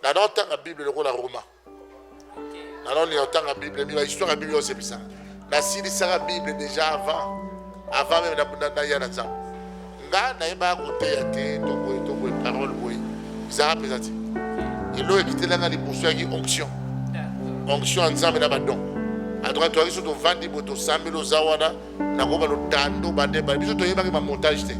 nana otanga bible lokola roma nana olinga otanga bible mila histoire ya bible osepisa nasilisaka bible deja avant avant meme naya na nzambe nga nayebaka koteya te to boye to boye parole boye ezalaka mpenza te elo ekitelanga liboso yaki onction onction ya nzambe na badon antuka toyaki so tovandi boye tosambeli oza wana nakoba lotando badeba biso toyebaki bamontage te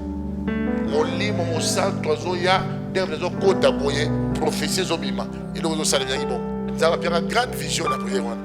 molimo mosantu azoya ndenge ezokota boye profesi ezobima eloko ezosalemaki bongo nzambe apiaka grande vision na priere wana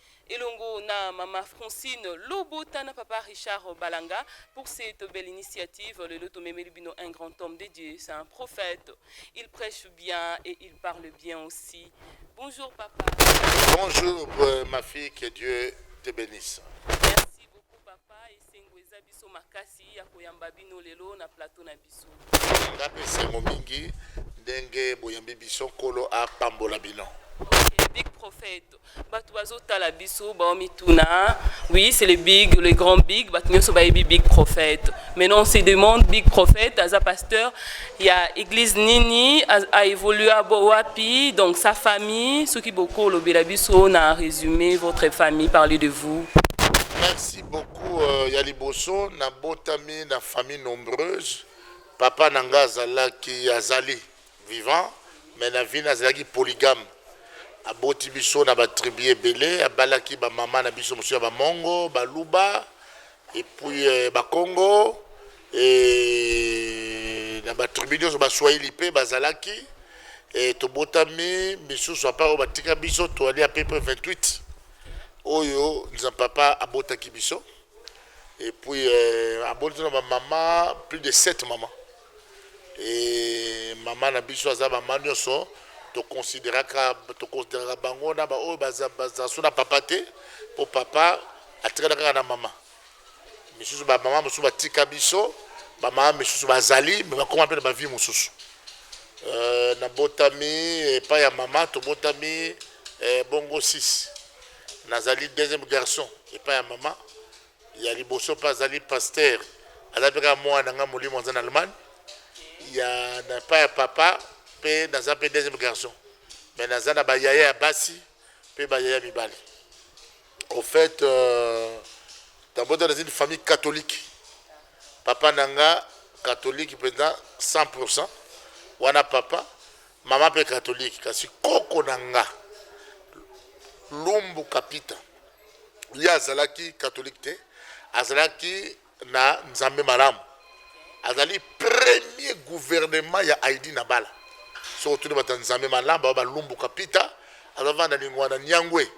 Elongo na mama Francine Lobota na papa Richard Balanga pour cette belle initiative. Lelo tomemeli bino un grand homme de Dieu, c'est un prophète. Il prêche bien et il parle bien aussi. Bonjour papa. Bonjour euh, ma fille, que Dieu te bénisse. Esengo eza biso makasi ya koyamba bino lelo na plateau na biso. Nga pe esengo mingi ndenge boyambi biso, Nkolo apambola bino. Okay, big prophète bato bazotala biso baomituna oui c'est le big le grand big bato nyonso bayebi big prophète maintenant on se demande big prophète aza pasteur ya église nini aévolua bo wapi donc sa famille soki bokolobela biso na résumé votre famille parler de vous merci beaucoup ya liboso na botami na famille nombreuse papa na nga azalaki azali vivant mais na vie nazalaki polygame aboti biso na batribu ebele abalaki bamama na biso mosusu ya bamongo baluba epuis euh, bakongo e, na batribu nyonso baswahili mpe bazalaki e, tobotami misusu apa oyo batika biso toali apepe 28 oyo nza papa abotaki biso et puis euh, aboti na ba mama plus de 7 mama et mama na biso aza mama nyonso toconsideraka toconsideraka bango na baoyo baza baza so na papa te mpo papa atikala kaka na mama misusu ba mama misusu batika biso ba mama misusu bazali me bakoma mpe na bavie mosusu euh, nabotami epai ya mama tobotami eh, bongo 6 nazali deuxième garçon epai ya mama ya liboso mpe azali pasteur aza mpe kaka mwana na ngai molimo aza na allemagne ya na epai ya papa mpe naza mpe deuxième garçon me naza na bayaya ya basi pe ba yaya mibali au fait euh, tabota dans une famille catholique papa nanga catholique mpenza 100 wana papa mama mpe catholique kasi koko na nga lumbu kapita ye azalaki catholique te azalaki na nzambe malamu azali premier gouvernement ya aidi na bala soki otuni bato ya nzambe malamu bao balumbuka pita azavanda lingwa na niangwe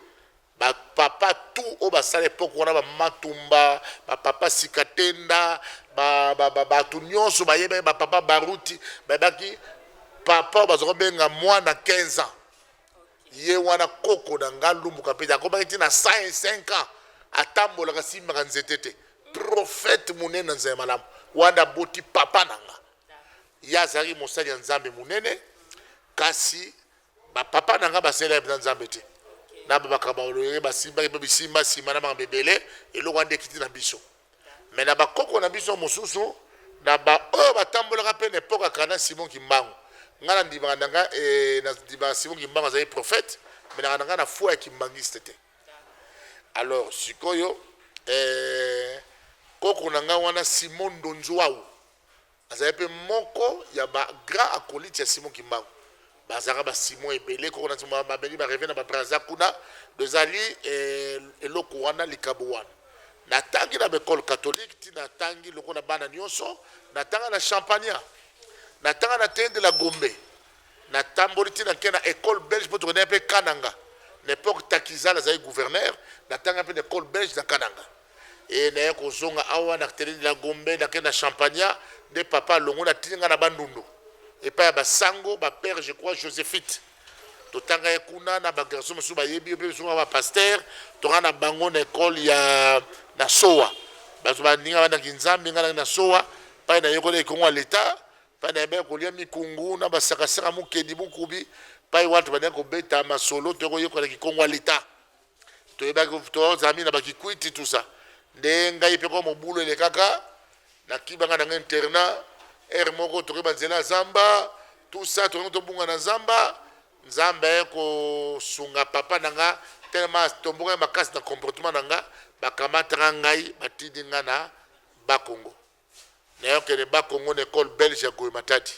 bapapa tu oyo basala epoke wana bamatumba bapapa sikatenda bato nyonso bayebaki bapapa baruti bayebaki papa oyo baza kobenga mwana 15 ans Ye wana koko na nga Lumbu Kapede akomaki ti na 105 ans atambolaka asimbaka nzete te. Prophète munene na nzela ya malamu wana nde aboti papa na nga. Ye azalaki mosali ya Nzambe munene kasi ba papa na nga basalela ye penza Nzambe te. Na ba makambo ya olenge basimbaki pe bisimba sima na makambo ebele eloko wana nde ekiti na biso. me na bakoko na biso mosusu na baoyo batambolaka mpe na epoka kana simon kimbangu ngai nandimaka na ngai eh, nandimaka simon kimbangu azali prophète me nanga na ngai na foi ya kimbangiste te alors sikoyo eh, koko na ngai wana simon ndonzuau Azalaki mpe moko ya ba grands acolytes ya Simon Kimbangu. Bazalaka ba Simon ebele, koko na Simon ba- bamemi ba reve na ba Brazza kuna. Donc ezali eh, eloko wana, likabo wana. Natangi na ba ecole catholique, ti natangi lokola bana nyonso. Natanga na Champagna, natanga na Tein de la Gombe, natamboli ti nake na ecole belge mpo tokendaki mpe Kananga. Na epoque Takizala azali gouverneur, natanga mpe na ecole belge na Kananga. Ee naya kozonga awa na terrain de la Gombe nake na Champagna nde papa alongoli atindi nga na Bandundu epai ya ba sango ba père je crois Josephite totanga ye kuna na ba garçon mosusu bayebi yo mpe biso ba pasteur tonga na bango na ekole ya na sowa bato baninga bana kinzambi nga nake na sowa pai na yekoli ekongo ya leta pai na yebaki kolia mikungu na basakasaka mokedi mokubi pai watu banaki kobeta masolo to koyekola kikongo ya leta toyebaki tozami na bakikwiti tusa nde ngai mpe kwa mobulu elekaka nakibanga na ngai interna ere moko tokoki banzela ya zamba tusa tokoki tobunga na zamba nzambe aye kosunga papa na nga telema tombokaki makasi na comportement na nga bakamataka ngai batindi nga na bakongo Nayokele ba kongo na ecole belge ya goe matadi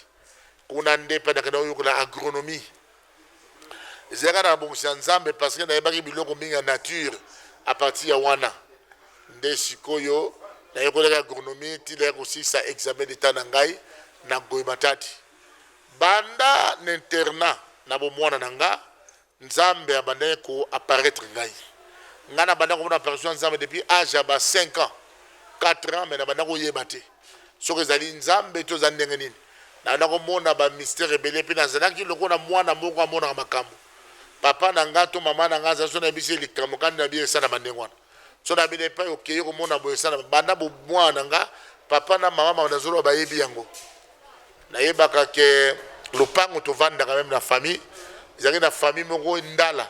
kuna nde pe nakenda koyokola agronomie ezalaka na bongisi ya nzambe parce que nayebaki biloko mingi ya nature a partir ya wana nde sikoyo nayokolaki agronomie ti naya kosilisa examen d'etat na ngai na goe matadi banda na internat na bomwana na nga Nzambe abandaki ko apparaitre ngai. Ngai na bandaki komona apparition ya Nzambe depuis age ya ba cinq ans, quatre ans mais na bandaki koyeba te soki ezali Nzambe to ezali ndenge nini. Na bandaki komona ba mystère ebele pe nazalaki lokola mwana moko amonaka makambo. Papa na ngai to mama na ngai azalaki soki nayebisi ye likambo kani na biye esalama ndenge wana. Soki na bino epai okei okomona boye sana banda bomwana na nga papa na mama mama nazoloba bayebi yango nayebaka ke lopango tovandaka meme na famille ezalaki na famille moko ndala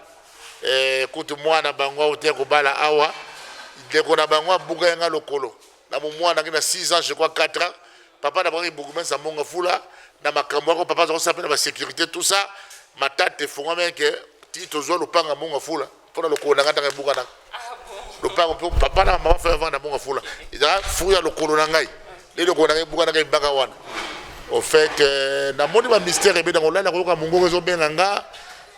eh, kutu mwana bango auti kobala awa ndeko na bango abuka yanga lokolo na momwanaki na 6 ans je crois 4 ans papa na bango ibugumesi ya monga fula na makambo yako papa azakosala mpe na basécurité tout ça matata efongwameke ti tozwa lopanga monga fula Pona lokolo nanga tanga ebuka na lopango po papa na mama fa vanda bonga fula eza furu ya lokolo na ngai le lokolo nanga ebuka nanga ebaka wana au fait euh, na moni ba mystère ebeda kolala koyoka mongongo ezo benga nga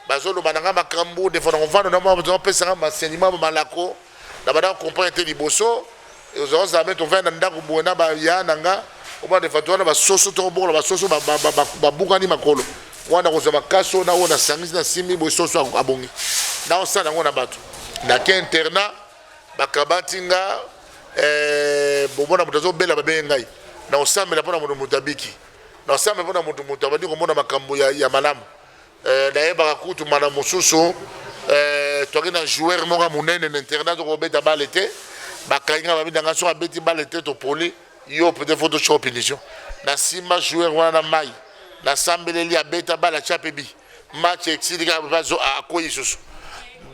bazoloba na nga makambo defo na kovanda na mwa bazopesa nga masenima malako na banda comprendre te liboso Ozo zame to venda ndaku boye na ba ya na nga omona defa to wana ba soso to bokola ba soso ba bukani makolo wana kozwa bakaso na oyo na sangisi na simbi boye soso abongi na osala yango na bato na ke internat bakabati nga eh, bomona moto azobela babenge ngai na osambela mpo na moto moto abiki na osambela mpo na moto moto abandi komona makambo ya, ya malamu Eh, nayebaka kutu mbala mosusu eh, toki na joueur moko ya monene na internat toko kobeta bale te bakangi nga babeta nga soki abeti bale te topoli yo peut-être fo tosoko punition nasimba joueur wana na mai nasambeleli abeta bale atya mpe bi match esilika akwei lisusu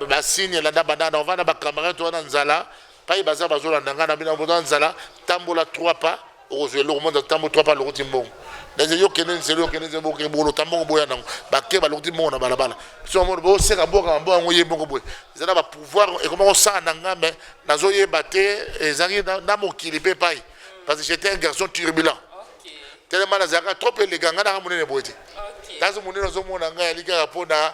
basigne elanda banana ovanda bacamarade wana nzala Payi baza bazo landa nga na bino boza na nzala tambola trois pas okozwa eloko monza tambo trois pas lokoti mbongo naze yo kende nzela okende nzela boke bolo tambongo boya nango bake balokoti mbongo na balabala so mono bo seka boka mambo yango ye moko boye eza na ba pouvoir ekoma ko sala na nga mais nazo yeba te ezangi na mokili pe pai parce que j'étais un garçon turbulent tellement nazalaka trop eleganga na nga monene boye te nazo monene ozo mona nga yali kaka po na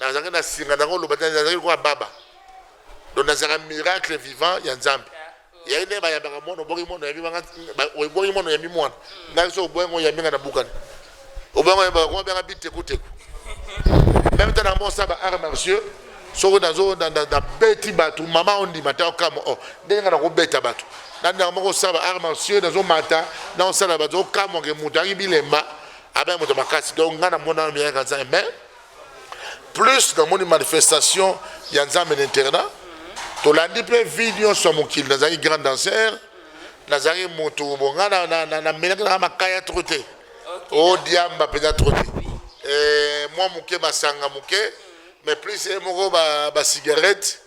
Nazalaki na singa na koloba te, nazalaki lokola baba. Donc nazalaka miracle vivant ya Nzambe. Yaye nde bayambaka mwana obongi mwana oyambi banga obongi mwana oyambi mwana. Ngai so obongi ngo yambi nga na bukani. Obongi ngo yambi ngo banga biteku teku. Même tana mo saba art martiaux soko nazo na na beti batu mama ondima ta kamo oh ndenge na ko beta batu. Nanda moko saba art martiaux nazo mata na osala batu okamwa ke mutu angi bilemba abe moto makasi. Donc nga na mona miyaka za mais plus namoni manifestation ya nzambe na internat tolandi mpe vie nyonso ya mokili nazalaki grand danser nazalaki motu bonga namelaki nanga makaya tro te o oh, diamba mpenza tro te eh, mwa moke masanga moke mais plus ye moko basigarete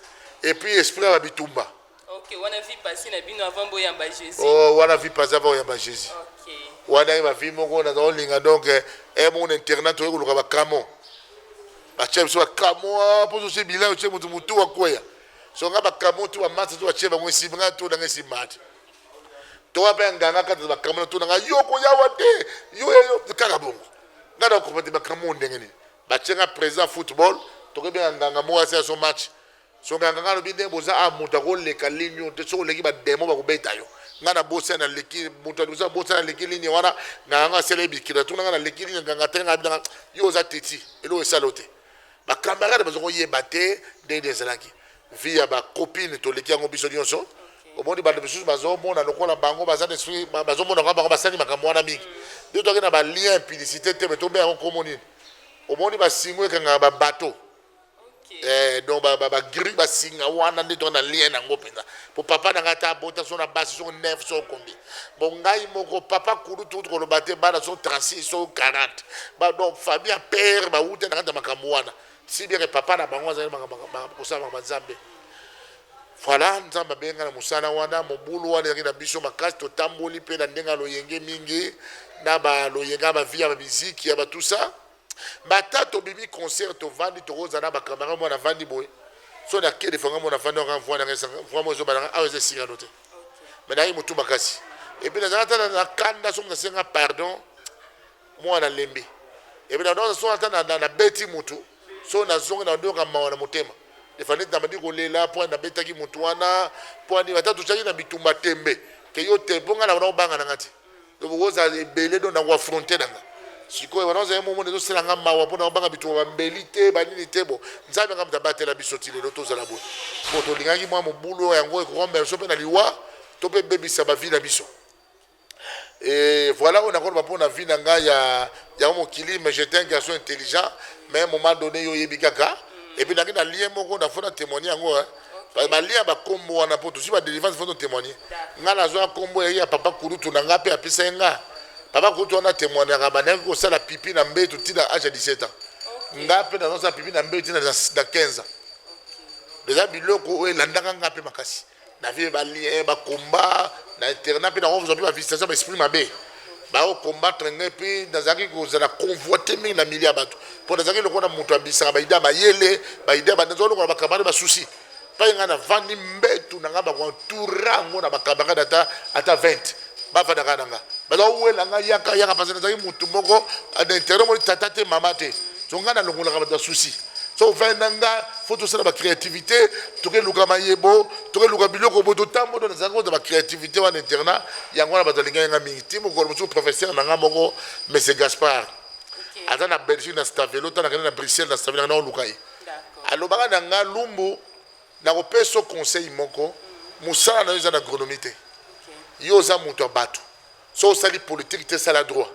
epuis esprit ya babitumba Ok, wana vie passée na bino avant boyamba Jésus. Oh, wana vie passée avant oyamba Jésus. Ok. Wana ye ba vie moko na zao linga donc eh, eh mon internat to yekuluka ba kamo. Ba chef so kamo ah, pour ce bilan chef mutu mutu wa koya. So nga ba kamo tu ba masa tu ba chef ngo simba tu na ngesi mat. To wa ben nganga kata ba kamo tu na nga yoko ya wa te. Yo yo kaka bongo. Nga na ko pati ba kamo ndenge ni. Ba chenga présent football to ke ben nganga mo asa so match. Soki nga nga lobi ndenge boza awa mutu ako leka ligne oyo te soki oleki ba demon bako beta yo nga na bosa na leki mutu ya liboso na bosa na leki ligne wana nga nga asala ye bikila tuna nga na leki ligne nga nga te nga bina yo oza teti elo esalo te ba camarade bazo ko yeba te ndenge ezalaki vie ya ba copine to leki yango biso nionso omoni bato mosusu bazomona lokola bango baza esprit bazomona kwa bango basali makambo wana mingi nde toyaki na balien implicité te me tobe yango nkombo nini omoni basingo ekangaka babato Eh, donc ba ba, ba gris ba singa wana nde toza na lien nango mpenza po papa na ngai ata abota so na basi so 9 so kombi bon ngai moko papa kudu tukuti koloba te bana so 36 so 40 ba donc famille ya père bauta na kati ya makambo wana si bien que papa na bango azali makambo makambo- kosala makambo ya nzambe voilà nzambe abenga na mosala wana mobulu wana ezalaki na biso makasi totamboli mpe na ndenge ya loyenge mingi na baloyenge ya bavie ya bamiziki ya batusa bata tobimi concert tovandi tokoza na bacamarade mwana avandi boye so na kede fanga mwana avandi anga mvua nanga esanga mvua mo ezobala nga awa eza esika no te me nayi motu makasi epi nazala ata na kanda soki nasenga pardon mwana lembi epi naoza so ata nabeti motu so nazongi na ndoka mawa na motema efandi ete nabandi kolela mpo nabetaki motu wana mpo ani ata totyaki na bitumba tembe ke yo te mpo ngai naona obanga na ngai te donc okozala ebele donc na koafronte na nga sikoyo wana ozali momona ezosala nga mawa mpo na kobanga bituka bambeli te banini te bo nzambe nga moto abatela biso ti lelo tozala boye mpo tolingaki mwa mobulu yango ekokomela biso mpe na liwa to mpe ebebisa bavi na biso Et voilà, on a encore pour la vie dans il y a mon kili, mais j'étais un garçon intelligent, mais à un moment donné, il y a eu Et puis, dans le lien, on a fait un témoignage. Parce balia ba kombo wana po tosi ba délivrance faut témoigner. Nga na zwa kombo ya papa kurutu na nga pe apesa nga. Papa kurutu wana témoignaka ba ndaki ko sala pipi na mbetu tina âge ya 17 ans. Nga pe na zwa pipi na mbetu tina na 15 ans. Eza biloko oyo elandaka nga pe makasi. Na vie ba lien ba combat na internat pe na zwa pe ba visitation ba esprit mabe. Bao combattre ngai mpe nazalaki kozala convoite mingi na milieu ya bato mpo nazalaki lokola na moto abisaka baide ya mayele baide ya banazali lokola bakamare basusi mpai ngai navandi mbetu na ngai bakoentoura yango na bakamarade ata ata 20 bafandaka na ngai bazawela ngai yaka yaka parce nazalaki motu moko na intere moni tata te mama te so ngai nalongolaka bato ya susi so vin na nga fo tosala bacréativité tokeluka mayebo tokeluka biloko bo totambola nazalaki kozala bacréativité wana internat Yango wana bato balingaki nga mingi ti mokolo mosusu professeur na nga moko monsieur Gaspard aza na Belgique na Stavelo ntango nakende na Bruxelles na Stavelo nakenda koluka ye alobaka na nga Lumbu nakopesa yo conseil moko mosala na yo eza na agronomie te yo oza moto ya bato so osali politike te sala droit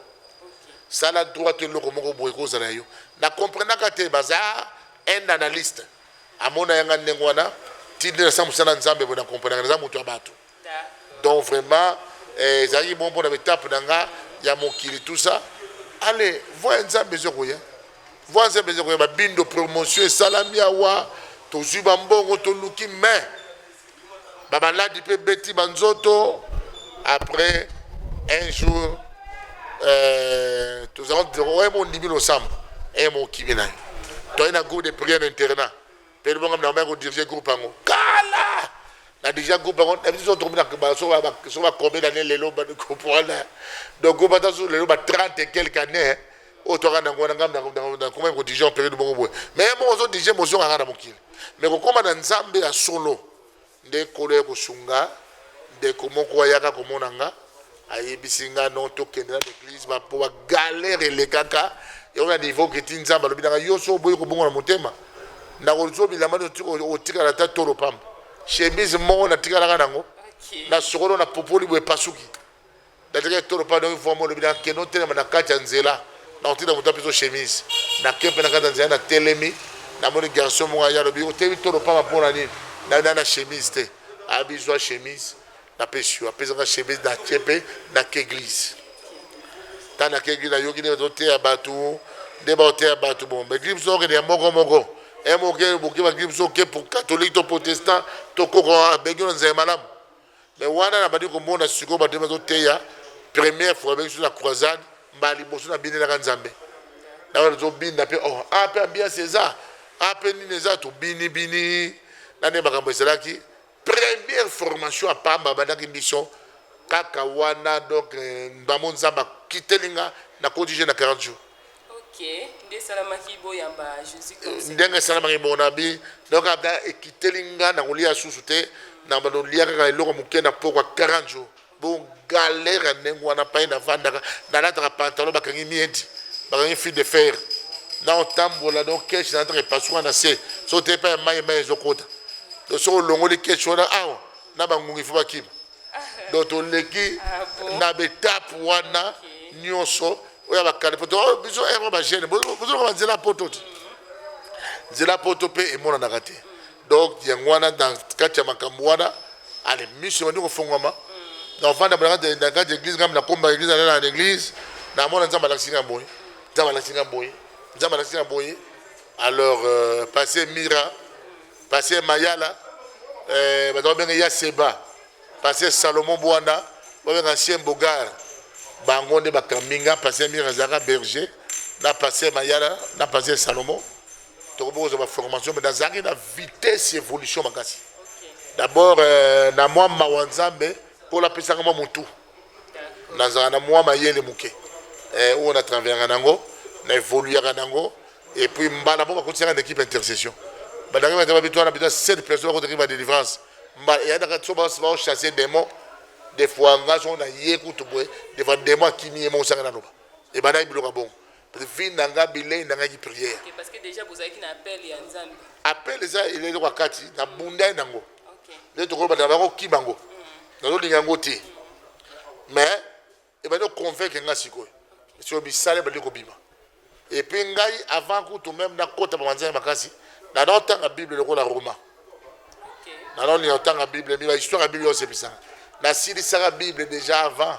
sala droit to eloko moko boye kozala yo na comprenaka te baza un analyste amona yanga ndenge wana ti nde nasala mosala nzambe boye na comprenaka naza moto ya bato Donc vraiment eh, ezalaki bon pona betape na nga ya mokili tout ça ale voix ya nzambe ezokoya voix ya nzambe ezokoya babindo promotion esalami awa tozwi bambongo toluki mais bamaladi mpe ebeti banzoto après un jour euh, tozalaki ondimi losambo e eh, mokimi na yo toyei na groupe de prière internat Pedro bonga na maya ko diriger groupe yango kala na dirigea groupe yango na biso tokomi na ba so ba so ba combien d'années lelo ba comprendre donc groupe ata so lelo ba 30 et quelques années oyo toka na ngona ngam na koma ko diriger en période bongo boye mais bon ozo diriger motion kaka na mokili mais kokoma na nzambe ya solo Nde Nkolo ya kosunga ndeko moko ayaka komona nga ayebisi nga non tokende na l'église ba po ba galère elekaka yango na niveau que ti Nzambe alobi nanga yo so oboyi kobongola motema nakozwa bilamba nyonso otikala ata tolo pamba chemise moko natikalaka nango na sokolo na popoli boye epasuki Natikaki tolo mpa ndongi mvua mwa lobi na kendo ntelema na kati ya nzela na kotinda moto apeso chemise na ke mpe na kati ya nzela na telemi na moni garçon moko aya lobi otemi tolo mpama mpo na nini na na na chemise te abizwa chemise na pesi yo apesaka chemise na tie mpe na ke église ta na ke église na yoki nde toteya bato nde baoteya bato bon mais gripe soki ya moko moko emoke boke ba gripe soki pour catholique to protestant to koko abengi na nzela malamu Mais wana na bandi komona sikoyo ba ndenge bazo teya première fois ba biso na croisade mbala liboso na bini naka Nzambe na wana bazo binda pe oh ah pe ambiance eza ah pe nini eza to bini bini na ne makambo esalaki première formation à pamba bandaki biso kaka wana donc euh, ndamo Nzambe akiteli nga na kotije na 40 jours ndenge esalamaki mon ami donc ata ekiteli nga na kolia susu te na bando lia kaka eloko moke na pokwa 40 jours bon galère ndenge wana pai navandaka nalataka pantalon bakangi miedi bakangi fil de fer na otambola donc keshi nalataka epasuka na se so te epai ya mai mai ezokota donc soki olongoli keshi wana awa na bangungi fo bakima donc toleki ah na betape wana nyonso oyo bakali poto oh, biso ero eh, bagene bozoloka banzela poto te nzela poto mpe emonanaka te donc yango wana na kati ya makambo wana ale miso ebandi kofongwama na ofanda na kati ya eglise ngambi nakomba eglise nalala na eglise namona nzambe alakisi ngai boye nzambe alakisi ngai boye nzambe alakisi ngai boye alors euh, passe mira pasteur mayala eh, bato babenge ya seba pasteur salomon bwana babenga ancien bogar bango nde bakambi nga pasteur mire azalaka berger na pasteur mayala na pasteur salomon tokomi kozwa baformation mai nazalaki na vitesse évolution makasi d'abord euh, na mwa mawa nzambe mpo lapesaka mwa motu nazalaka na mwa mayele moke eh, oyo na traveraka na yango na evoluyaka na yango et puis mbala moko bakotisaka na équipe intercession bandaki bata babito wana bito 7 personnes bakotaki ba délivrance mbala eyandaka so baochasse démon des fois nga so na ye kutu boye des fois démon akimi ye moko sanga naloba ebandaki biloka bongo vie na nga bilei na ngai prière appel eza eloko ya kati nabundai nango nde tokoki kobanda bango kima yango nazolinga yango te mais ebandi oconvaincre ngai sikoyo sikoyo misala ebandi kobima epuis ngai avant kutu meme nakota bamanzai makasi nanotanga bible lokola roma nanolinga kotanga bible mi bahistoire ya bible osebisanga nasilisaka bible déjà avant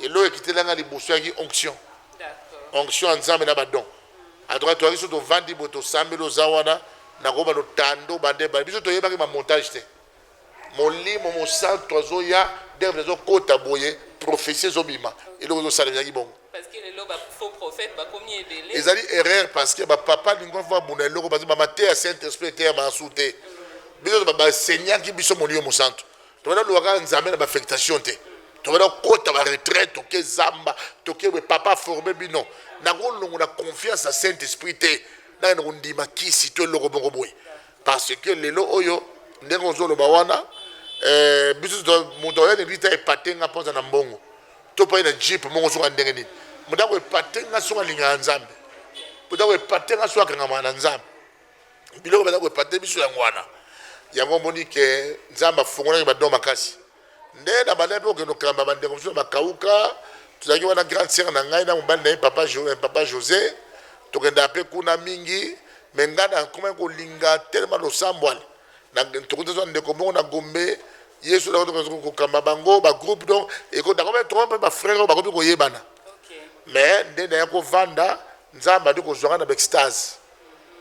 Elo ekitela nga liboso ya ki onction. Onction ya Nzambe na ba don. En tout cas toyaki so tovandi boye tosambeli oza wana nakoba lotando bande bande biso toyebaki ma montage te. Molimo mosantu azoya ndenge mpe ezokota boye prophetie ezobima eloko ezosalemaki bongo. Parce que lelo ba faux prophètes bakomi ebele. Ezali erreur parce que ba papa lingua va bunda eloko parce que ba mateya Saint Esprit eteya masu te. Biso ba baseignaki biso molimo mosantu. Tokoki na luaka nzambe na ba affectation te. Tokoki na kota ba retraite toke zamba toke we papa forme bino. Nakolongo na confiance na Saint Esprit te. Nanga nakondima kisi to eloko moko boye. Parce que lelo oyo ndenge ozoloba wana eh, biso moto oya na eglise ta epate nga mpoza na mbongo to pai na jeep moko soka ndenge nini moto akoepate nga soka alingaka nzambe moto akoepate nga soka akangama na nzambe biloko baza koepate biso yango wana yango omoni ke nzambe afungolaki badon makasi nde na banda mpe okende okelamba bandeko mosusu bakauka tozalaki wana grande sere na ngai na mobali na ye papa, jo, eh, papa josé tokendaka mpe kuna mingi me ngai nakomaki kolinga telema losambwani tokuti azwa ndeko moko na gombe yesu kokamba bango bagroupe donc ekodakomaki toko mpe bafrere oyo bakomi koyebana me nde naya kovanda nzambe adi kozwaka na baextase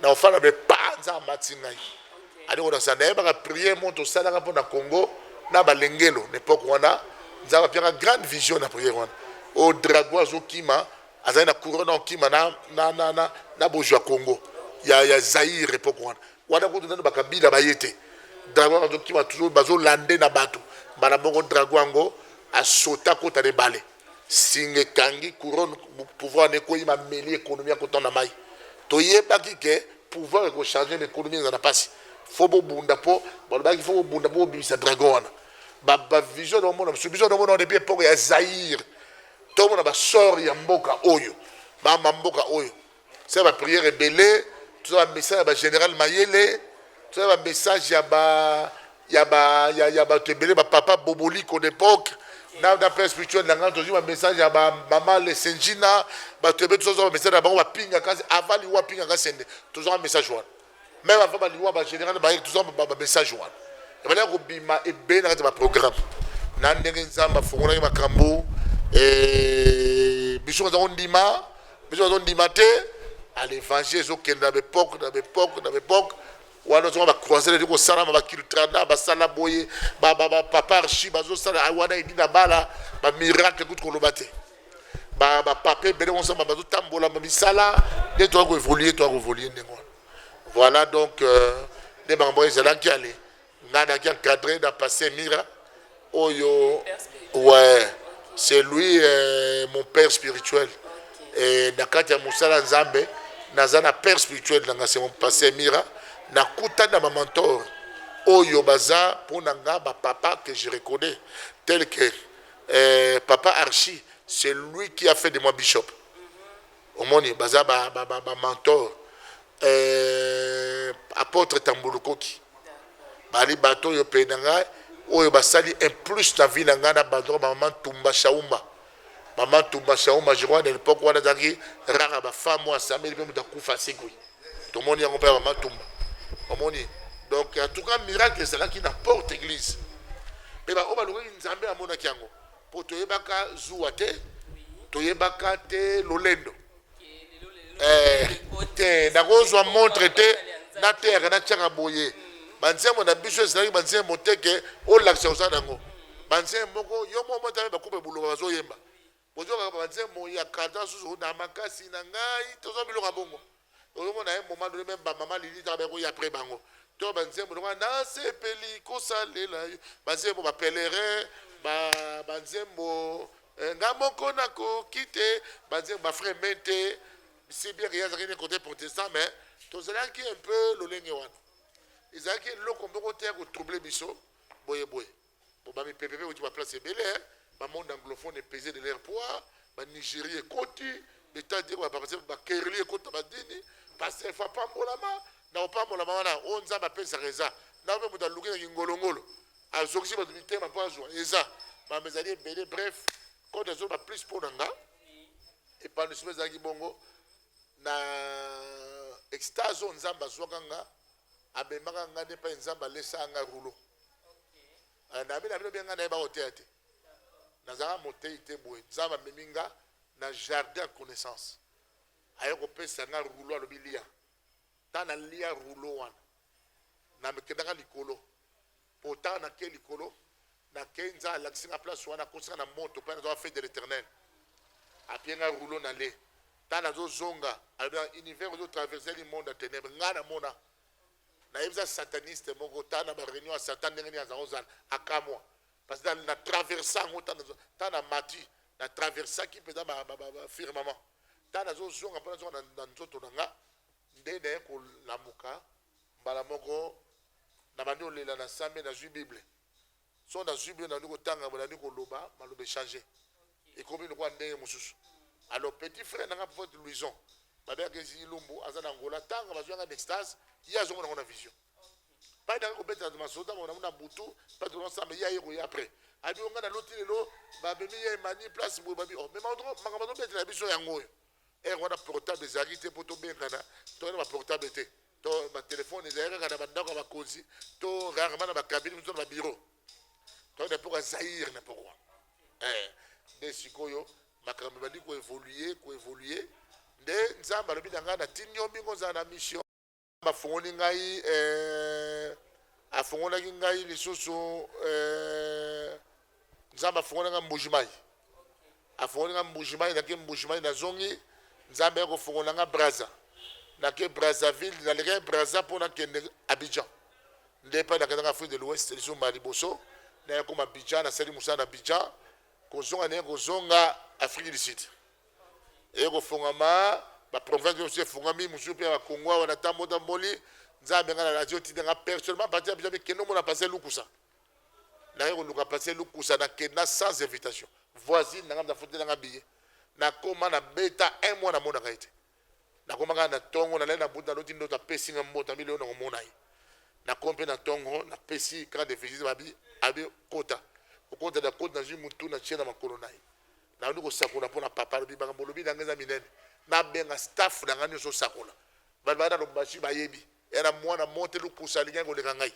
na ofana be panza amati ngai ali kona sa na yebaka prière moko tosalaka mpo na congo na balengelo na epoke wana nzambe apiaka grande vision na prière wana oyo drago azokima azali na couronne okima na, na, na, na, na bozwa congo ya, ya zaire epoke wana wana kutu nano bakabila baye te drago azokima bazolande na bato mbala moko drago yango asota kota na ebale singa ekangi couronne pouvoir n'ekwei ma meli économie akota na mai toyebaki ke pouvoir eko changer mais économie eza na pasi fo bobunda po balobaki fo bobunda po bobimisa dragon wana ba ba vision na mona biso biso na mona depuis époque ya Zaire tomona ba sort ya mboka oyo ba mboka oyo Sala ba prière ebele, tozala ba message ya ba general mayele, tozala ba message ya ba ya ba ya, ya bato ebele ba papa boboliko d'époque na na père spirituel na ngai tozwi ba message ya ba mama lesenjina bato ebele tozwa ba message na bango bapingaka avant liwa apingaka sende tozwaka message wana meme avant baliwa bagénéral baye toza bamessage wana ebandaki kobima ebele na kati ya baprogramme na ndenge nzambe afungolaki makambo eh, biso baza kondima biso baza kondima te à l'évangile ezokende na bepoke na bepoke na bepoke wana ozonga bacroisere edi kosalama bakiltrana basala boye bapapa archi bazosala ah, wana edi na bala bamiracle kutu koloba te ba ba papa ebele on sama bazo tambola ba misala nde toyaki koevolue toyaki koevolue ndenge wana voilà donc euh, nde makambo oyo ezalaki ale ngai nayaki encadré na passé mira oyo ouais c'est lui euh, mon père spirituel et na kati ya mosala nzambe naza na père spirituel na ngai c'est mon passé mira nakutani na bamantor oyo baza mpo na ngai bapapa que je reconnais tel que Eh papa Archi c'est lui qui a fait de moi bishop omoni baza ba, ba, ba, ba mentor eh, apotre tambulukoki bali bato oyo pene na ngai oyo basali un plus na vie na ngai na bandroka bamama ntumba shauma mama ntumba shauma je crois na lepoke wana ezalaki rara bafemme oyo asambeli mpe moto akufa asekwi tomoni yango mpe ya mama tumba omoni donc en tout cas miracle ezalaki na porte église mpe baoyo balukaki nzambe amonaki yango mpo toyebaka zuwa te toyebaka te lolendo eh, te nakozwa montre te na terre natiaka boye banzembo na biso ezalaki banzembo te ke olakisa oza nango banzembo moko yo moko motame bakupe buloba bazoyemba Bozua kaka ba nzembo ya cardan susu oyo na makasi na ngai tozua biloko ya bongo ozongo na un moment donné meme ba maman lili taka bako ya après bango to ba nzembo lokola na sepeli kosalela yo ba nzembo ba pèlerin ba ba nzembo eh, nga moko na koki te ba nzembo ba frère mente si bien que yazaki ne côté protestant mais tozalaki un peu lolenge wana ezalaki eloko moko te ya kotrouble biso boye boye Bon, ba mipepe pe ba place ebele, hein. ba monde anglophone est pesé de leur poids, ba Nigeria ekoti, beta de ba papa ba kerli ekota ba dini, parce fa pambolama, na opambolama wana, o nzamba pesa reza. Na pe muta luki na ngolongolo. Azokisi ba mitema pa zwa eza. Ba mezali ebele bref, quand azo ba plus pour nanga. Et pas nous ezalaki bongo na extase oyo nzambe azwaka nga amemaka nga nde epai nzambe alesaka nga rulo eh, nayebi na bino bie nga nayeba koteya te nazalaka motei te boye nzambe amemi nga na jardin ya connaissance aye kopesa nga rulo alobi lia ntango nalia rulo wana namekendaka likolo Pota na ke likolo na ke nza alakisi nga place wana akosi nga na moto mpe nazoka fete de l'éternel apie nga rouleau na le ta nazozonga alobi na univers ozo traverse li monde ya ténèbre nga namona nayebisa sataniste moko ta na bareunion ya satan ndenge nini azango ozala akamwa parce que na traverse yango ta na mati na traversaki mpenza bafirmement ta nazozonga mpo nazonga na nzoto na nga nde naye kolamuka mbala moko na bandi olela na same na zui bible so na zui bible na bandi kotanga bolandi koloba maloba echange ekomi lokola ndenge mosusu alors petit frère nanga prophète louison babeyaka ezi ilumbu aza na ngola tanga bazwi yanga na extase ye azongo nango na vision pai nanga kobetela masota mona mona butu pai tolona samba ye aye koya après adi onga na loti lelo babemi ye emani place boye babi oh mais makambo azobetela biso yango oyo Heure wana portable ezalaki te mpo tobengana, toyaki na baportable te, to batelefone ezalaki kaka na bandako ya bakonzi to rarement na bakabine mosusu na babiro. Toyaki na mpoka Zaire na pokwa eh, nde sikoyo makambo ebandi koevolue koevolue, nde Nzambe alobi na ngai natindi yo mbingo ozala na mission. Bafongoli ngai eh, afongolaki ngai lisusu eh, Nzambe afongoli ngai Mbujimai, afongoli ngai Mbujimai, nake Mbujimai nazongi, Nzambe ya kofongola ngai Braza, nake Brazzaville, nalekaki Braza mpo nakende Abidjan, nde epai nakendaka Afrique de l'Ouest lisusu mbala liboso, naye koma Abidjan, nasali mosala na Abidjan, kozonga naye kozonga Afrique du Sud. eye kofongama ba province nionso efongami mosusu mpe na Congo awa na tambo tamboli nzambe nga na radio tinde nga personnellement parti ya biso mpe kende omona passe lukusa naye koluka passe lukusa na kenda sans invitation voisine nanga mtafutela nga billet nakoma na beta un mois namonaka ye te nakoma kaka na tongo nalali na butu naloti ndoto apesi nga mboto abi lelo nakomona ye nakomi mpe na tongo napesi carte de visite babi abi kota okota na koti nazwi motu natie na makolo na ye Nakoki kosakola mpo na papa alobi makambo olobi na ngai eza minene. Nabenga staff na ngai nyonso osakola. Bato baya na lombashi bayebi. Eya na mwana monte lukusa alingaki koleka ngai.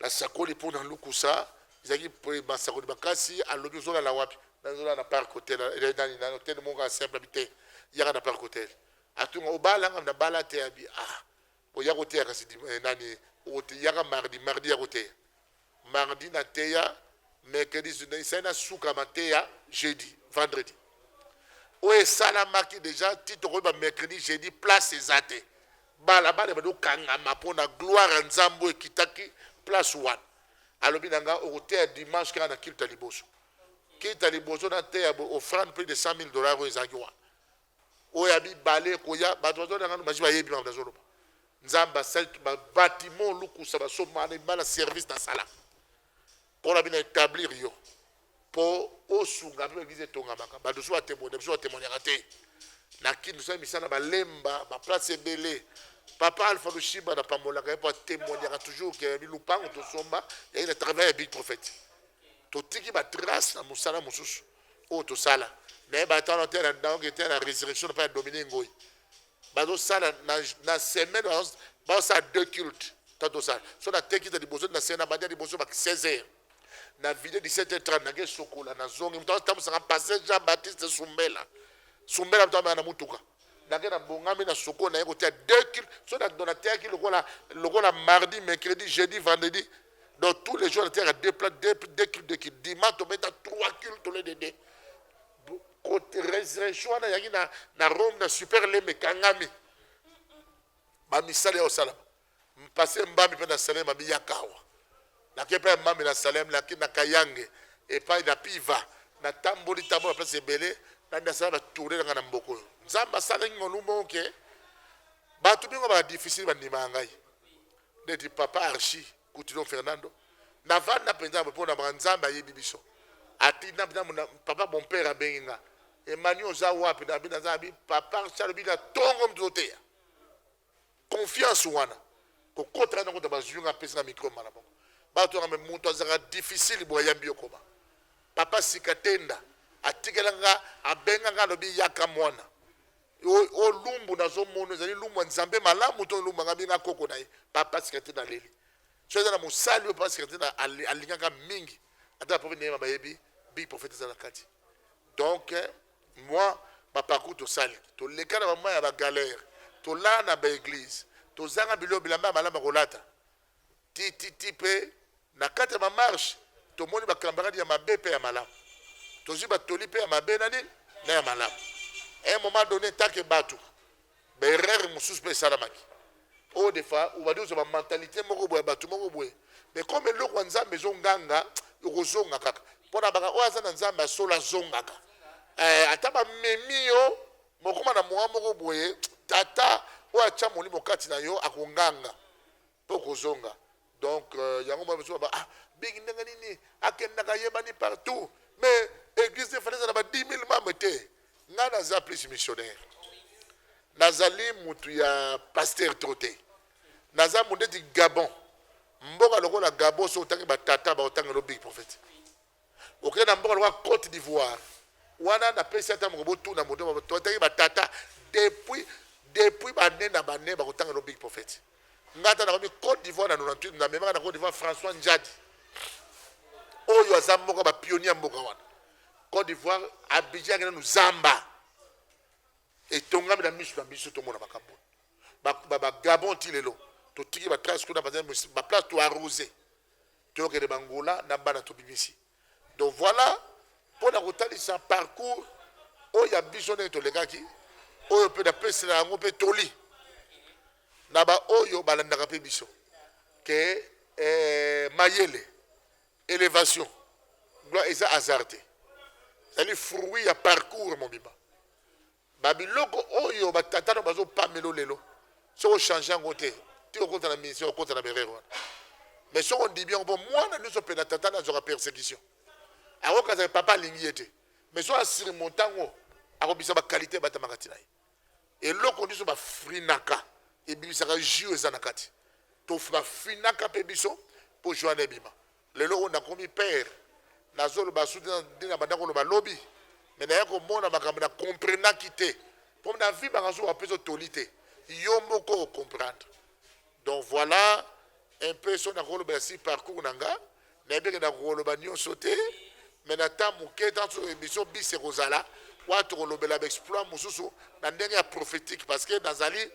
Nasakoli mpo na lukusa ezalaki masakoli makasi alobi ozolala wapi nazolala na parc hotel nani na hotel moko asemble bi te yaka na parc hotel atunga obalanga na bala te abi ah Oya koteya kasi dim, eh, nani okote, yaka mardi mardi ya koteya mardi na teya mercredi esali na suka mateya jeudi vendredi oyo esalamaki deja ti tokoyeba mercredi jeudi place eza te balabala ebandi okangama mpo na gloire ya nzambe oyo ekitaki place wana alobi na ngai okoteya dimanche kaka na kilta liboso kilta liboso nateya ofrande plus de 100 000 dollars oyo ezalaki wana oyo ya mibale ekoya bato bazolya nano basi bayebi makambo nazoloba nzambe asali babatiment lukusa basomana ebima na service nasala mpo na bino etablir yo mpo osunga mpe baeglize etongamaka bato mosusu batemone mosusu batemoniaka te na kini tosali misala balemba baplace ebele papa alpha lushimba napambolaka ye mpo atemoniaka toujours ke yabi lupango tosomba yai na travail ya big prophète totiki batrace na mosala mosusu oyo tosala naye bato wana te naoke te na resurrection mpe ya domine ngoi bazosala na semaine bazosala deux culte ta tosala so nateki ta liboso na sena bandi ya liboso ba 16 heures na video 17 heures 30 nake sokola nazongi moto atambusaka pase jean baptiste sumbela sumbela moto amea na motuka nake na bongami na sokola naye kotia deux culte so nateyaki lokola lokola mardi mercredi jeudi vendredi Donc tous les jours il y a deux plats, deux, deux cultes, deux cultes. Dimanche, on met trois cultes au lieu de deux. Côté résurrection, il y a na Rome, na super les mekangami. Ma misali au salam. Passé mbami pe na salem ma biyakawa. Na kepa mbami na salem na ki na kayange et pas na piva. Na tamboli tamboli place ebele na na sala tourner na na mboko. Nzamba sala ngolumbo ke. Batu bingo ba difficile ba ndima ngai. Ndeti papa archi kutu don Fernando na vanda penza boye pona maka nzambe ayebi biso ati na na na papa mon père abengi nga Emmanuel oza wapi na bi naza bi papa archi alobi na tongo mto te ya confiance wana kokota na kota bazwi nga pesa na micro mala moko bato wana me moto azaka difficile boye yambi yo koma papa sika tenda atikela nga abenga nga alobi yaka mwana O, o lumbu nazo mono ezali lumbu ya Nzambe malamu to lumbu nga benga koko na ye papa sikati na leli. So eza na mosali oyo papa sikati na alingaka mingi ata ba prophète nayema bayebi big prophète eza na kati. Donc moi ba parcours tosali toleka na ba mwa ya ba galère tolala na ba église tozanga biloko bilamba ya malamu ya kolata tititi mpe na kati ya bamarshe tomoni bakambaradi ya mabe mpe ya malamu tozwi batoli mpe ya mabe na nini na ya malamu un moment donné ntake bato baerreur mosusu mpe esalamaki oyo defa obandi kozwa bamentalité moko boye ya bato moko boye mais comme eloko ya nzambe ezonganga okozonga kaka mpo na baka oyo aza na nzambe ya solo azongaka eh, ata bamemi yo mokoma na mowa moko boye tata oyo atya molimo kati na yo akonganga po kozonga donc euh, yango mwana mosusu baba ah bigi ndenge nini akendaka ayebani partout mais église efali ezala ba 10 000 membre te ngai naza plus missionnaire nazali motu ya pasteur tro te naza mondeti gabon mboka lokola gabon so otangi batata baotangelo big prophète Okei na mboka lokola Cote d'Ivoire, wana napesi ata moko botuna moto moko toataki batata depuis depuis bane na bane bakotanga no big prophet nga ata nakomi Cote d'Ivoire na 98 na memaka na Cote d'Ivoire François Njadi oyo aza moko ba pionnier ya mboka wana Cote d'Ivoire Abidjan akenda no zamba etongami na miso na biso tomona makambo ba, ba, ba Gabon ti lelo totiki ba trace kuna ba place to arroser Tokende b'Angola na bana tobimisi. Donc voila mpo na kotalisa parcours oyo ya biso ndenge tolekaki, oyo mpe napesela yango mpe toli na baoyo balandaka mpe biso ke eh, mayele elevation gloire eza hasard te, ezali fruit ya parcours mobimba. Ba biloko oyo ba tata no bazo pamela yo lelo soki o changer yango te tika okota na ministère okota na ba erreur wana mais soki ondimi yango po mwana nionso apela tata na azwaka persecution akokanisa ke papa alingi ye te mais soki a surmonta yango akobisa ba qualité ebatamaka ti na ye eloko nionso ba frinaka ebimisaka jus eza na kati to ba frinaka pe biso po jus wana ebima Lelo oyo nakomi père nazo loba su nde na banda ko loba lobi mais naya ko mona makambo na comprenaki te po na vie banga zo wapesa yo toli te yo moko o comprendre donc voilà un peu so nako lobela si parcours na nga nayebi ke nako loba nionso te mais na temps moke tanso emission bis ekozala wana tokolobela ba exploit mosusu na ndenge ya prophétique parce que nazali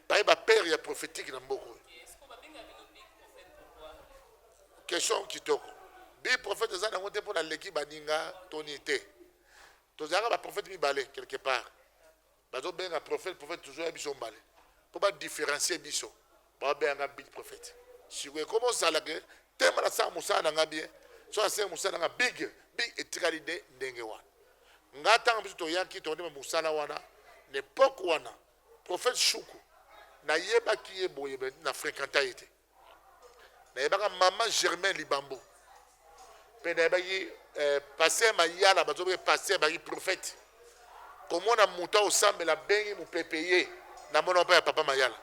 baye ba père ya prophétique na mboka oyo Question kitoko. Bi prophète eza nango te pona aleki baninga to nini te. Tozalaka ba prophète mibale quelque part. Bazo benga prophète prophète toujours ya biso mbale. Po ba différencier biso. Ba benga nga big prophète. Sikoyo ekomi ozala ke tema na sala mosala na nga bien. So na sala mosala na nga big big etikali nde ndenge wana. Nga tango biso toyaki tondima mosala wana na epoque wana prophète Shuku nayebaki ye boye na frekanta ye te. nayebaka mama germain libambo mpe nayebaki eh, paster mayala bazobaki paster baki prophète komona moto aosambela abengi mopepe ye na mona mpe ya papa mayala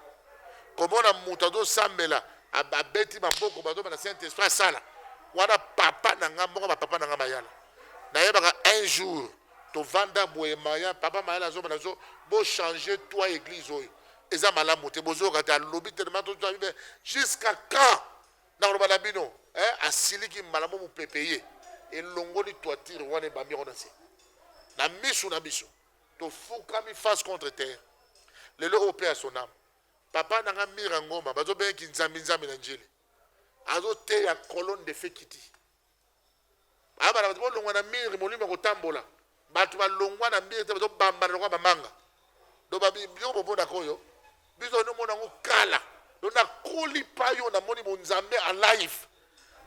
komona moto azosambela abeti maboko bazomela saint esprit asala wana papa na nga moko bapapa na nga mayala nayebaka un jour tovanda boye maya papa mayala azomela zo bochange toi église oyo eza malamu te bozoyoka te alobi telema tozwa bibe jusqu'à quand nakoloba na bino eh, asiliki mbala mo mopepe ye elongoli toitire wana ebambi yango na se na misu na biso tofukami face contre terre lelo oyo mpe ya sonama papa na nga mira ngoma bazobenge kinzambi nzambi na njili azoteya colonne de fekiti abala bato bolongwa na mire molimo ya kotambola bato balongwa na mire te bazobambana lokola bamanga do babiloko bomonaka oyo biso nomona yango kala do nakoli pa yo namoni bonzambe en live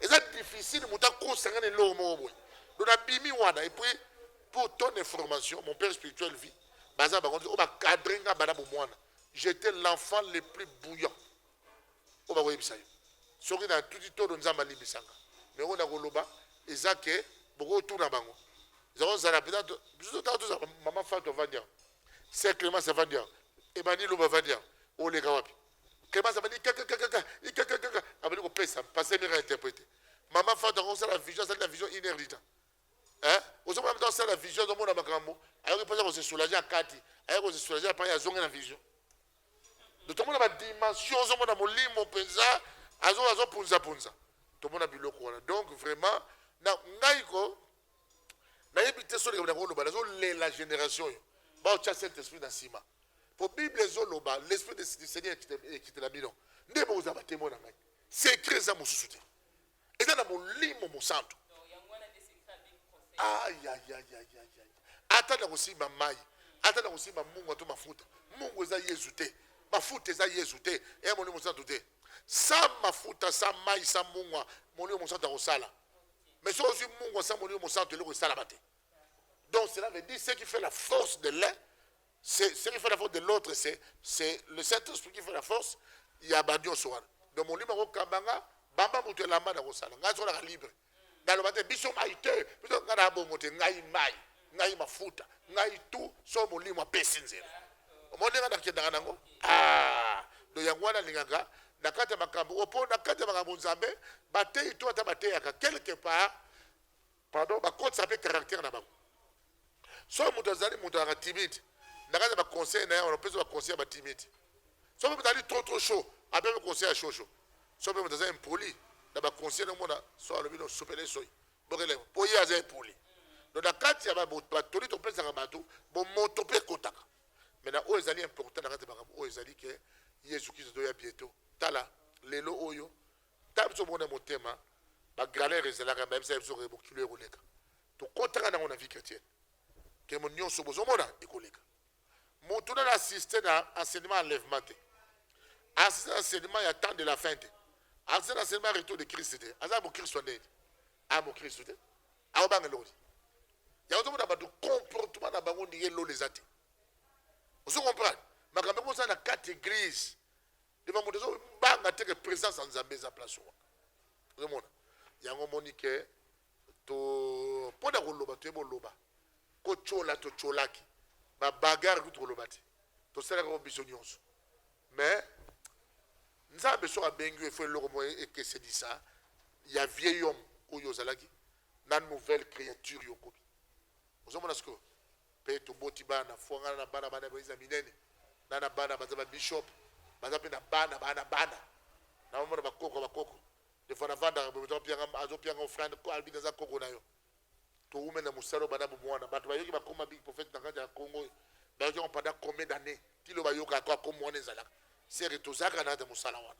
eza difficile moto akosanga na eloko moko boye do nabimi wana epuis pour ton information mon père spirituel vie baza bakonzi oyo bakadre nga bana bomwana j'étais l'enfant le plus bouillant oyo bakoyebisa yo soki na tuti todo nzambe alimbisanga me oyo nakoloba eza ke bokotuna bango eza kozala mpenza biso totaka tozala mama fatu avandi awa se clemence avandi awa emani loba avandi awa oleka wapi clemence abandi kakakakaka ikakakaka abandi kopesa mpase mire interprete mama fatu yango osala vision asali na vision une heure du temps eh? ozomona mta osala vision azomona makambo ayoki mposa kosesoulage akati aye kosesoulage apai azongi na vision Donc tomona ba dimension ozomona molimo mpenza azo azo punza punza tomona biloko wana donc vraiment na ngai ko nayebi te soki likambo nakoloba nazolela génération oyo baotya saint esprit na nsima mpo bible ezoloba l'esprit du seigneur ekitela bino nde bokozala batemoi na ngai secret eza mosusu te eza na molimo mosantu ata na kosimba mai ata na kosimba mungu to mafuta mungu eza yezu te mafuta eza yezu te eya molimo mosantu te sa mafuta sa mai sa mungwa molimo mosantu akosala mais soki ozwi mungwa sa molimo mosantu eloko esalama te donc cela veut dire ce qui fait la force de l'un C'est ce qui fait la force de l'autre, c'est c'est le Saint-Esprit qui fait la force. Il y a Badion Soir. Donc mon livre Kabanga, Bamba Moutou Lamba na Rosala. Ngai sola libre. Dans le matin, biso mai te, biso ngana bongo te, ngai mai, ngai mafuta, ngai tout, so mon livre pesi nzela. Mon livre na kenda nango. Ah, do yango na lingaka na kata makambo opo na kata makambo Nzambe, bateyi to ata bateyaka quelque part pardon bakotisa mpe caractère na bango soki moto azali moto azalaka timide na kati ya baconseil na ye wana opesa baconseil ya batimide soki mpe moto azali trop trop chaud apemi conseil ya shosho soki mpe moto aza impoli na baconseil nomona so alobi no sopele soi bokele mpo ye aza impoli do na kati ya batoli topesaka bato bomoto mpe ekotaka me na oyo ezali important na kati ya makambo oyo ezali ke yesu kristo toya bieto tala lelo oyo ntango biso moko na motema bagalere ezalaka bayebisaka biso ke mokili oyo ekoleka tokotaka nango na vie chrétienne ke mo nyonso bozomona ekoleka motu nana asiste na enseignement enlèvement te asiste na enseignement ya temps de la fin te asiste na enseignement ya retour de christ te aza mokristo ndeni a mokristo te aobanga eloko te yango tomona bato comportement na bango ndenge lola eza te ozo comprendre makambo yango oza na kati eglise Devant moto ezo banga te que présence ya Nzambe eza place wana. Ozo mona? Yango moni que to mpo na koloba toyebi oloba kotyola totyolaki babagare kutu koloba te tosalaka yango biso nyonso mais nzambe soki abengi yo efo eloko moko ekesenisa ya vieil homme oyo ozalaki na nouvelle créature yo okomi ozomona sikoyo pe toboti bana fua ngana na bana bana baza minene na na bana baza ba bishop baza pe na bana bana bana na bamona bakoko bakoko defo nafandaka boye azopianga azopianga ofrande albi naza koko na yo towumeli na mosala obanda bomwana bato bayoki bakoma big prophète na kati ya congo oyo bayoki yango pendant combien d'année ti lo bayokaka ko akoma wana ezalaka seke tozalaka na kati ya mosala wana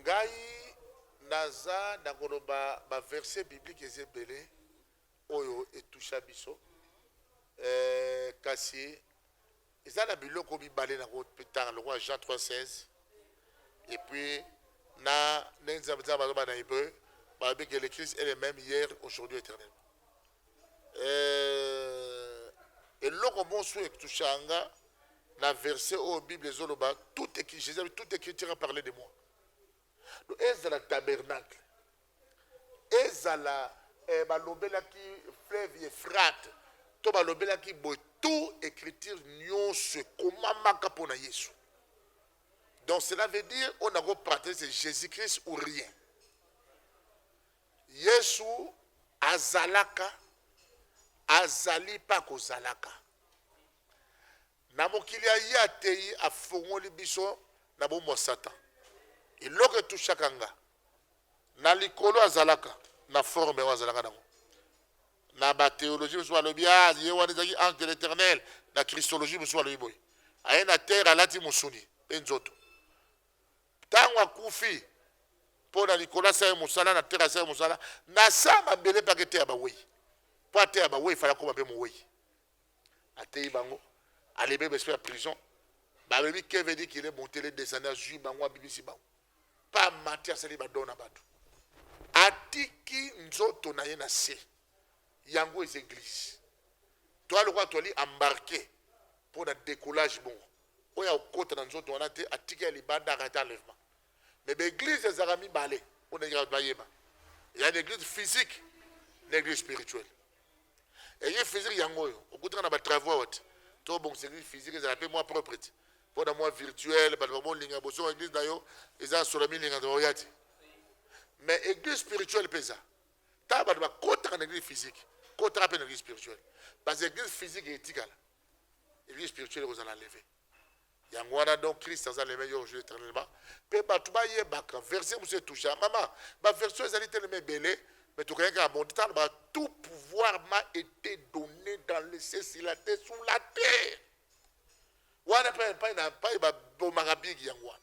ngai naza nakoloba ba verse biblique eza ebele oyo etusha biso eh, kasi eza na biloko mibale nakotanga lokola jean 316 epuis na ndenge nzambe nzambe aloba na hébreu balobi ke le christ est le même hier aujourd'hui éternellement Eh, eloko bonso ektushaka nga na verset oyo bible ezoloba tout jesus abi tout écriture a parler de moi do ezala tabernacle ezala eh, balobelaki fleuve efrate to balobelaki boye tout écriture nyonso ekomamaka mpo na yesu donc cela veut dire on a ko partager c'est jésus christ ou rien Yesu azalaka, azali mpe akozalaka. Na mokili ya ye ateyi, afongoli biso na bomo ya Satan. Eloko etushaka nga na likolo azalaka na forme oyo azalaka nango na batheologie mosusu balobi ah, ye wana ezalaki ange de l'éternel na christologie mosusu balobi boye aye na terre alati mosuni mpe nzoto Tango akufi po na likolo asala ye mosala na terre asala ye mosala na sa mabele pe aketeya baweyi po ateya baweyi fala akoma pe moweyi ateyi bango alebe besprit ya prison balobi keve di kile montele descende azwi bango abimisi bango pa mati asali badon na bato atiki nzoto na ye na se yango eza eglise toa lokola toali embarke mpo na decollage bongo oyo ya kokota na nzoto wana te atiki ya libanda akati enlèvement mais ba église ezalaka mibale mpo na bato bayeba ya na église physique na église spirituelle église physique yango oyo okutaka na batravoi awa te to obongisa église physique ezala mpe mwa propre te mpo na mwa virtuel bato bamolinga bosoko église na yo eza sola milinga oya te mais église spirituelle mpe eza ntango bato bakotaka na église physique kotaka mpe na église spirituelle parce que église physique etikala vie spirituelle ekozala leve yango wana donc christ aza leve yo jour éternellement mpe bato bayebaka verse mosusu etoucha mama baversion ezali telema ebele mais tokei kaka bonte ntango ba tout pouvoir ma été donné dans le ciel sur la terre sur la terre wana mpe epai na epai babomaka bigi yango wana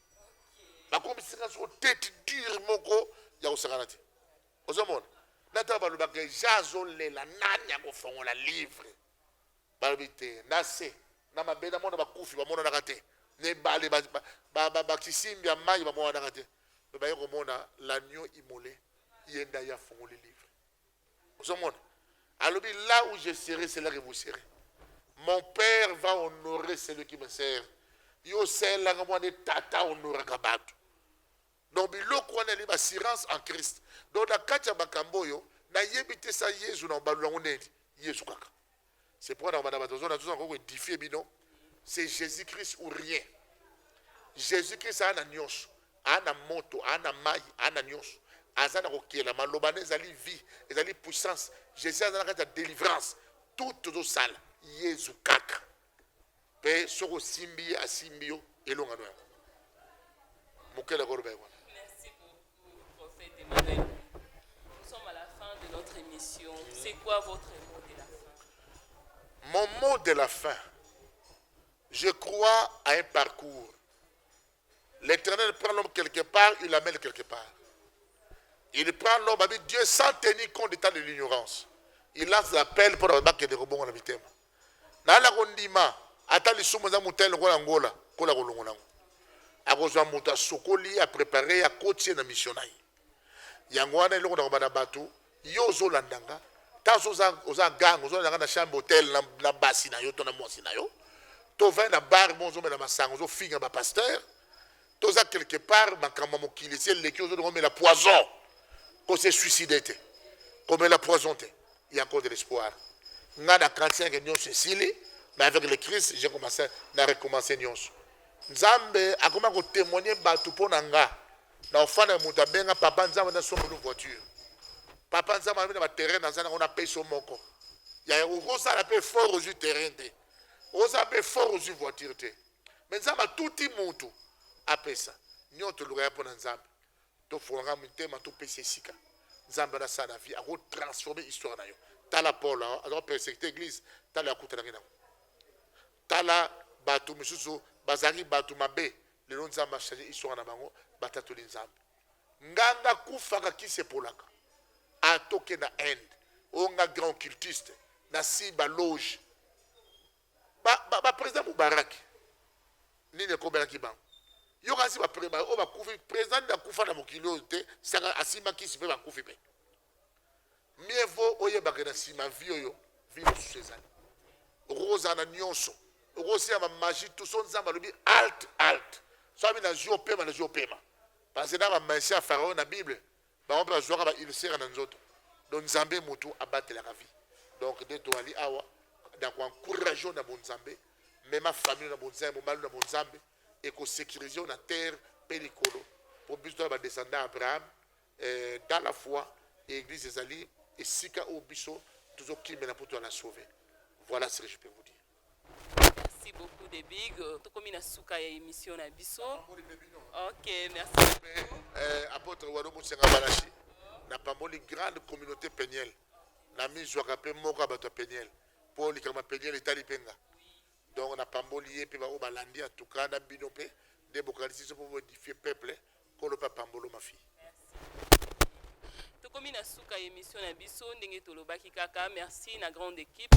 bakomisaka soko tete dure moko ya kosakana te ozomona na ntango balobaka eja azolela nani akofongola livre Balobi te, na se na mabele na mona bakufi bamonanaka te, na ebale bakisimbi ya mai bamonanaka te, me baye komona l'agneau immole, ye nde aye afungoli livre. Ozomona? Alobi là où je serai, c'est là que vous serez. Mon père va honorer celui qui me sert. Yo osalelaka mwana tata honoraka bato. Donc biloko wana yali bassurance en Christ. Donc na kati ya makambo oyo nayebi te sa Yezu na obalula yango nini. Yezu kaka. C'est pourquoi na banda bato zona zona ko edifier bino. C'est Jésus Christ ou rien. Jésus Christ ana nyonso. Ana moto, ana mai, ana nyonso. Aza na kokela maloba na ezali vie, ezali puissance. Jésus aza na kati ya délivrance. Tout tozosala Yezu kaka. mpe soki osimbi ye asimbi yo elonga no yango mokele akoloba yango C'est quoi votre mot de la fin Mon mot de la fin, je crois à un parcours L'Éternel prend l'homme quelque part, il l'amène quelque part. Il prend l'homme avec Dieu sans tenir compte d'état de l'ignorance. Il lance l'appel pour la bakende kobongo na mitema. Na la kondima ata lisumu za mutele ko Angola, ko la kolongo nango. Akozwa mutu asokoli, a préparer, a coacher na mission na ye. Yango wana eloko na kobana batu, Yo ozo landa nga ta so oza oza gang ozo landa nga na chambre hotel na, na basi na yo to na mwasi na yo to vin na bar mo ozo mela masanga ozo finga ba pasteur toza quelque part makambo ya mokili esi eleki ozo dongo mela poison ko se suicide te komela poison te il y a encore de l'espoir nga na 45 et nyonso esili mais avec le christ j'ai commencé na recommencer nyonso nzambe akoma kotemoigne bato mpo na nga Na ofanda na mutu abenga papa nzambe na somba yo voiture papa nzambe alobi na ba terrain naza nango na pesi yo moko yaya okosala pe effort ozwi terrain te okosala pe effort ozwi voiture te me nzambe atuti mutu apesa nyoto toluka ya mpo na nzambe tofungaka mitema topesa esika nzambe wana asala na vie akotransforme histoire na yo tala paul aza kopersekite eglise tala akutanaki nango Tala batu misusu bazalaki batu mabe lelo nzambe a change histoire na bango batatoli nzambe nganga kufaka kisi epolaka atoke na inde onga grand cultiste na si ba loge ba, ba, ba president mubarak nini ekomelaki bango yokanisi oyo bakufi president nde akufa na mokili oyo te saka asimba kisi mpe bakufi mpe mieux vaut oyebaka na nsima vie oyo vie mosusu ezali okoki kozala na nyonso okoki osila bamagie tu so nzambe alobi alt alt so abi nazwi opema nazwi opema parce que na bamaisi ya farao na bible bango mpe bazwaka baulcere na nzoto donc nzambe motu abatelaka vie donc nde toali awa na koencourage na bonzambe mema famille na bonzambe mobali na bonzambe ekosekirize yo na terre mpe likolo mpo biso toya badescendant ya abraham eh, dans la foi église ezali esika oyo biso tozokimela mpo tozala sauve voilà ce que je peux vous dire merci beaucoup de big tokomi na suka ya émission na biso ok merci beaucoup. Eh, apôtre wano mosenga balashi napamboli grande communauté peniel namizwaka mpe moko ya bato ya peniel mpo likambo ya peniel etali mpe nga Donc na pamboli ye pe ba oyo balandi en tout cas na bino pe nde bokanisi biso po bo edifier peuple kolo pe apambolo ma fille. Tokomi na suka ya emission na biso ndenge tolobaki kaka merci na grande equipe.